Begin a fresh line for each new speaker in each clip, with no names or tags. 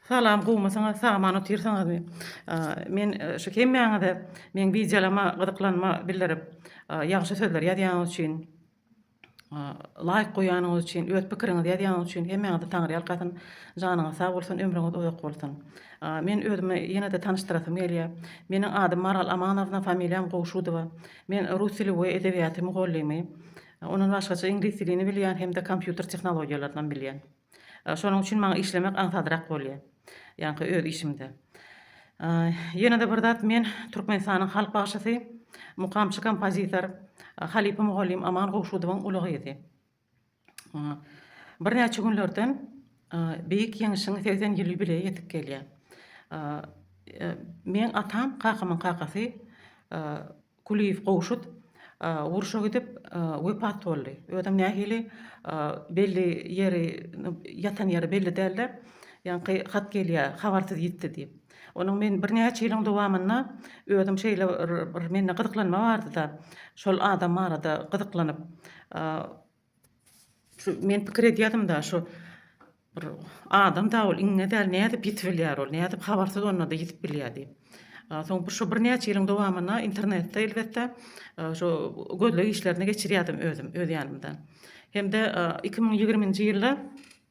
Salam gowmysyňyz sagman otyrsyňyzmy men şu hemmäňize meň wideolama gyzyklanma bildirip ýagşy sözler ýazýanyňyz üçin laýk goýanyňyz üçin öz pikiriňizi ýazýanyňyz üçin hemmäňizi taňyrýalkasyn janyňyz sag bolsun ömrüňiz uzak bolsun men özümi ýene-de tanyşdyrasym gelýär meniň adym Maral Amanowna familiýam Gowşudowa men rus dili we edebiýaty mugallymy ondan başgaça iňlis dilini bilýän hem-de kompýuter tehnologiýalarynam bilýän. Şonuň üçin maňa işlemek aňsatrak bolýar. Ýaňky öz işimde. Ýene-de bir zat, men Türkmenistanyň halk bagşysy, mukamçy kompozitor, halypa mugallym Aman Gowşudowyň uly gyzy. Birnäçe günlerden Beýik Ýeňişiň segsen ýyl ýubileýi ýetip gelýär. Meň atam, kakamyň kakasy Kulyýew Gowşut urşa gidip wepat boldy. Özem nähili belli ýeri ýatan ýeri belli däldi. Ýaňky hat gelýär habarsyz ýitdi diýip. Onuň men birnäçe ýylyň dowamynda özüm şeýle bir mende gyzyklanma bardyda şol adam barada gyzyklanyp Şu men pikir edýädim-da, şu bir adam da ol iňňe däl, nädip ýitip bilýär ol, nädip habarsyz onda-da ýitip bilýär diýip. Soň bir şu birnäçe ýylyň dowamynda internetde elbetde şu gözleg işlerini geçirýärdim özüm, öz ýanymda. Hem-de iki müň ýigriminji ýylda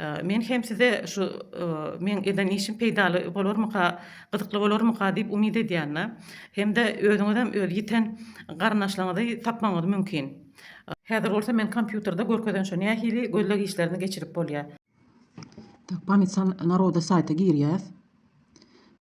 Men hem size şu meň eden işim peýdaly bolarmyka, gyzykly bolarmyka diýip umyt edýän. Hem-de özüňizem öz ýiten garyndaşlaryňyzy tapmagyňyz mümkin. Häzir bolsa men kompýuterde görkezençe nähili gözleg işlerini geçirip bolýar. Pamytsan naroda saýta girýäs.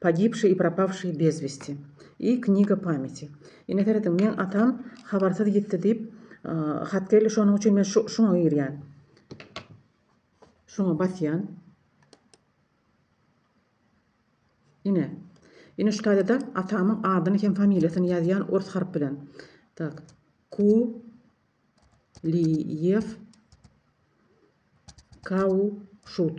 Pogibşi i propawşi bez westi i kniga pameti. Ine serediň, meň atam habarsyz ýitdi diýip hat geldi, şonuň üçin men şuňa girýän. Şuňa basýan. Ine. Ine şu taýda-da atamyň adyny hem familiýasyny ýazýan ors harp bilen. Tak. Ku Liýew Kauşut.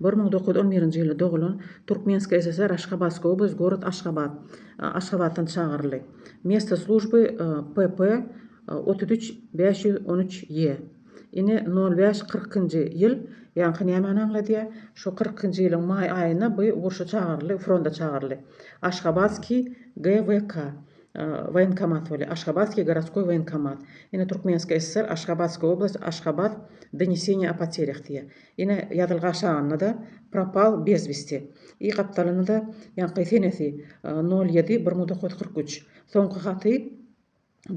Bir müň dokuz ýüz on birinji ýylda dogulan Türkmenskiý SSR Aşgabatska oblast gorod Aşgabat Aşgabatdan çagyryldy. Mesto slujby PP otuz üç bäş ýüz on üç ýe. Ine nol bäş kyrkynjy ýyl ýaňky nämani aňladýa? Şu kyrkynjy ýylyň maý aýynda by urşa çagyryldy fronda çagyryldy. Aşgabatskiý GWK woýenkomat bolýa Aşgabatskiý goroskoý woýenkomat. Ine Türkmenskiý SSR Aşgabatska oblast Aşgabat Doniesieniýe o poterýah diýýa. Ine, ýazylyk aşagynda-da Propal bez westi. I gapdalynda-da ýaňky senesi, nol ýedi, bir müň dokuz ýüz kyrk üç. Soňky haty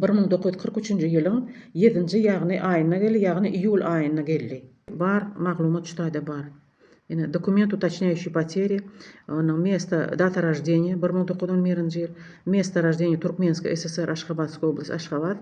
bir müň dokuz ýüz kyrk üçünji ýylyň ýedinji, ýagny, aýynda geldi, ýagny iýul aýynda geldi. Bar, maglumat şu taýda bar. Ine, dokument, utocnýaýuşi poteri, onuň mesto, data roždeniýa, bir müň dokuz ýüz on birinji ýyl, mesto roždeniýa, Türkmenska SSR, Aşgabatska oblast, Aşgabat.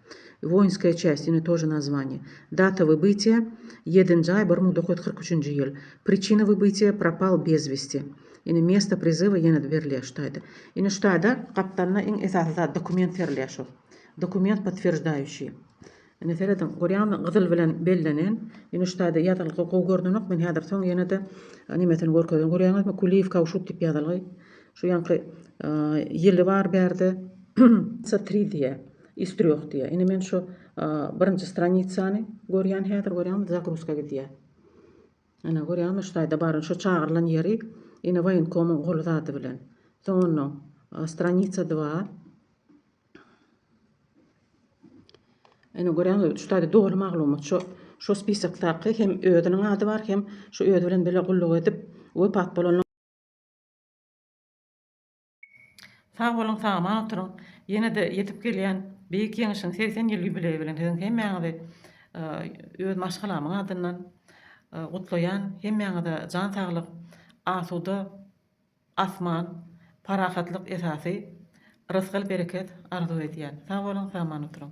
Woinskaya çäst ýene to je nazwaniýe. Data wybitýa, Ýedinji aý bir müň dokuz ýüz kyrk üçünji ýyl. Priçina wybitýa, Propal bez westi. Ýene Mesto prizywa ýene-de berilýär şu taýda. Ine şu taýda gapdalynda iň esasy zat dokument berilýär şol. Dokument podtwерждающий. Ine serediň, görýäňizmi gyzyl bilen bellenen. Ine şu taýda ýazylgy gowy görnenok. Men häzir soň ýene-de nemesini görkezen. Görýäňizmi Kuliýew Kauşuk diýip ýazylgy. Şu ýaňky ýyly bar bärde. Sa tri diýýär. Istrýoh diýýär. Ine men şu birinji stranisany görýän häzir görýäňmi zagruzka gidýär. Ine görýäňmi şu taýda bary şu çagyrylan ýeri ine woýenkomyň goly zady bilen. Soň ondan stranisa 2. Ine görýäňmi şu taýda doly maglumat şu şu spisokdaky hem özüniň ady bar hem şu özi bilen bile gulluk edip wepat bolan Sag boluň sagaman oturyň. Ýene-de ýetip gelýän beýik ýeňişiň segsen ýyl ýubileýi bilen siziň hemmäňizi öz maşgalamyň adyndan gutlaýan. Hemmäňize jan saglyk, asuda asman, parahatlyk esasy rysgal-bereket arzuw edýän. Sag boluň, sagman oturyň.